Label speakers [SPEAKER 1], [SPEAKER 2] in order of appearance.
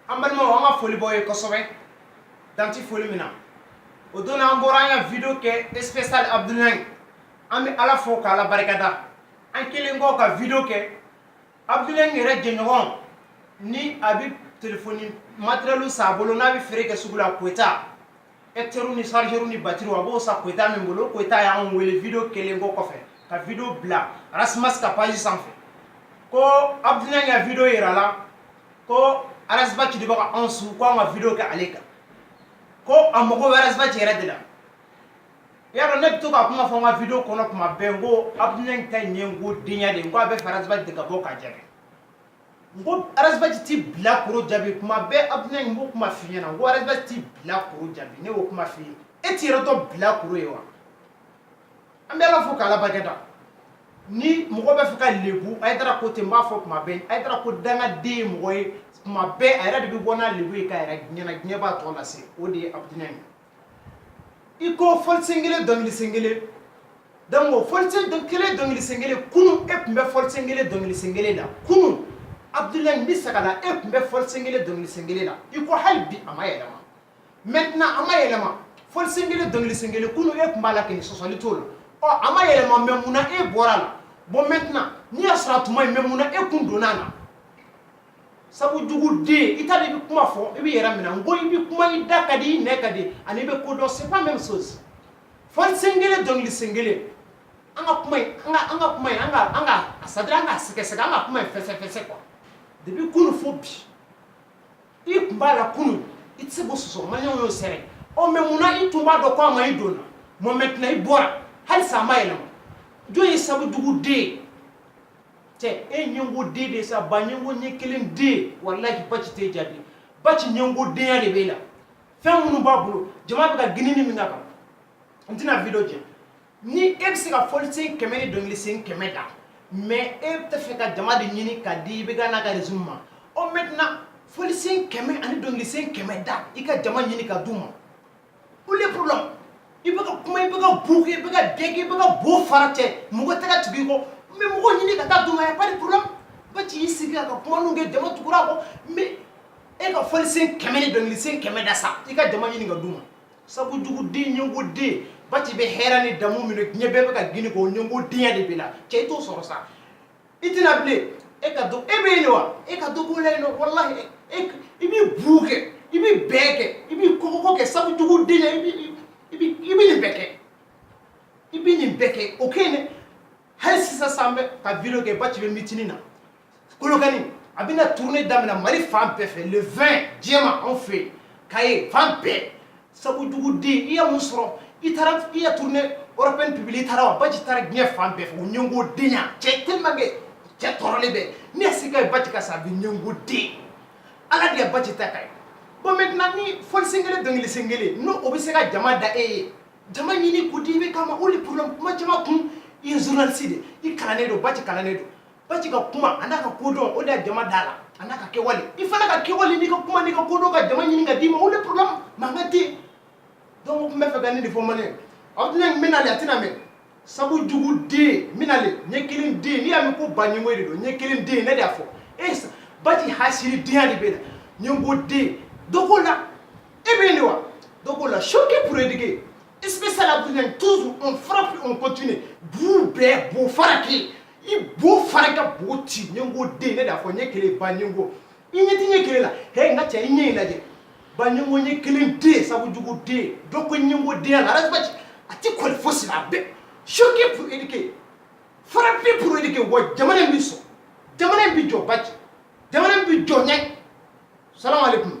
[SPEAKER 1] an balimaw an ka foli b'aw ye kosɛbɛ dan tɛ foli min na o don an bɔra an ka video kɛ spécial abudulayi an bɛ ala fo k'ala barika da an kɛlen kɔ ka video kɛ abudulayi yɛrɛ jɛɲɔgɔn ni a bɛ telefoni materiyɛliw san a bolo n'a bɛ feere kɛ sugu la koyita ekutɛriw ni sarijɛriw ni batiriw a b'o san koyita min bolo koyita y'anw wele video kɛlen kɔ kɔfɛ ka video bila arasimas ka paji sanfɛ ko abudulayi ka video yira la ko arasibaci de bɛ ka anw su ko an ka video kɛ ale kan ko a mago bɛ arasibaci yɛrɛ de la i y'a dɔn ne bɛ to ka kuma fɔ n ka video kɔnɔ tuma bɛɛ n ko abudulayi ta in ye n ko denya de ye n ko a bɛ fɛ arasibaci de ka bɔ k'a jaabi n ko arasibaci ti bilakoro jaabi kuma bɛɛ abudulayi n b'o kuma f'i ɲɛna n ko arasibaci ti bilakoro jaabi ne y'o kuma f'i ye e t'i yɛrɛ dɔn bilakoro ye wa an bɛ ala fo k'ala barika da ni mɔgɔ bɛ fɛ ka lebu ayidara ko ten n b'a fɔ kuma bɛɛ ayidara ko dangaden ye mɔgɔ ye kuma bɛɛ a yɛrɛ de bɛ bɔ n'a lebu ye k'a yira diɲɛ na diɲɛ b'a tɔ lase o de ye abudulayi ye i ko fɔlisen kelen dɔnkilisen kelen donc o fɔlisen kelen dɔnkilisen kelen kunun e tun bɛ fɔlisen kelen dɔnkilisen kelen na kunun abudulayi n bɛ segin a la e tun bɛ fɔlisen kelen dɔnkilisen kelen na i ko hali bi a ma yɛlɛma maintenant a ma yɛlɛma fɔlisen kelen dɔnkilisen kelen kunun e tun b'a la kɔni sɔsɔli t'o la ɔ a ma yɛlɛma mais mun na e bɔra a la bon maintenant n'i y'a sɔrɔ a tun ma ɲi mais mun na e kun donna a la sabu jugu den i t'a dɔn i bɛ kuma fɔ i b'i yɛrɛ minɛ n ko i bɛ kuma i da ka di i nɛn ka di ani i bɛ ko dɔn c'est pas même chose fɔlisen kelen dɔnkilisen kelen an ka kuma in an ka an ka kuma in an ka an ka a c'est à dire an ka sɛgɛsɛgɛ an ka kuma in fɛsɛfɛsɛ quoi depuis kunu fo bi i tun b'a la kunu i tɛ se k'o sɔsɔ maliyɛnw y'o sɛbɛn ɔ mais mun na i tun b'a dɔn ko a ma ɲi i donna bon maintenant i bɔra halisa a ma yɛlɛma jɔn ye sabu jugu den ye cɛ e ɲɛngo den de sa ba ɲɛngo ɲɛ kelen den walahi baci t'e jaabi baci ɲɛngodenya de b'e la fɛn minnu b'a bolo jama bɛ ka girin ni min ka kan n tɛna video jɛ ni e bɛ se ka fɔlisen kɛmɛ ni dɔnkilisen kɛmɛ da mais e tɛ fɛ ka jama de ɲini ka di i bɛ ka n'a ka réseau ma ɔ maintenant fɔlisen kɛmɛ ani dɔnkilisen kɛmɛ da i ka jama ɲini ka d'u ma où est le problème i bɛ ka kuma i bɛ ka bu kɛ i bɛ ka dɛn kɛ i bɛ ka bo fara cɛ mɔgɔ tɛ ka tugu i kɔ mais mɔgɔ ɲini ka taa d'u ma y a pas de problème baci y'i sigi k'a ka kuma ninnu kɛ jama tugura a kɔ mais e ka fɔlisen kɛmɛ ni dɔnkilisen kɛmɛ da sa i ka jama ɲini ka d'u ma sabu juguden ɲɛngoden baci bɛ hɛrɛ ni daamu min na diɲɛ bɛɛ bɛ ka girin a kɔ ɲɛngodenya de b'e la cɛ i t'o sɔrɔ sa i tɛna bilen e ka dɔ e bɛ yen de wa e ka dɔ k'o la yen nɔ walahi e i b'i buu kɛ i b'i bɛɛ kɛ i b'i kɔkɔkɔ kɛ sabu jugu denya i bɛ nin bɛɛ kɛ i bɛ nin bɛɛ kɛ o kɛ yen dɛ hali sisan sa an bɛ ka video kɛ Baci bɛ mitini na kolokani a bɛna tournée daminɛ mali fan bɛɛ fɛ le 20 Diéma anw fɛ yen Kayes fan bɛɛ sabu jugu den i ye mun sɔrɔ i taara i ye tournée européenne publier i taara wa Baci taara diɲɛ fan bɛɛ fɛ o ɲɛngo denya cɛ tellement que cɛ tɔɔrɔlen bɛ ne ye sika ye Baci ka sa bi ɲɛngo den ala de ye Baci ta ka ye bon maintenant ni fɔlisen kelen dɔnkilisen kelen n'o o bɛ se ka jama da e ye jama ɲini k'o di IBK ma o de problème kuma caman kun i ye journaliste de i kalannen don Baci kalannen don Baci ka kuma a n'a ka kodɔn o de ye jama da la a n'a ka kɛwale i fana ka kɛwale n'i ka kuma n'i ka kodɔn ka jama ɲini ka d'i ma o de problème mankan tɛ yen donc n bɛ fɛ ka nin de fɔ mali aw tɛna n bɛna le a tɛna mɛn sabu jugu den n bɛna le ɲɛ kelen den n'i y'a mɛn ko ba ɲɛngo de don ɲɛ kelen den ne de y'a fɔ e Baci hasiri denya de b'e la ɲɛngo den dɔ k'o la e bɛ yen de wa dɔ k'o la choquer pour éduquer spécial à toujours on frappe on continue buu bɛɛ bo fara kɛ i bo fara ka bo ci ɲɛngo den ne de y'a fɔ ɲɛ kelen ba ɲɛngo i ɲɛ ti ɲɛ kelen la hɛ n ka cɛ i ɲɛ in lajɛ ba ɲɛngo ɲɛ kelen den sabu jugu den dɔ k'o ɲɛngo denya la Ras Baci a ti kɔli fosi la a bɛɛ choquer pour éduquer frapper pour éduquer wa jamana in bi sɔn jamana in bi jɔ Baci jamana in bi jɔ ɲɛ salamu aleykum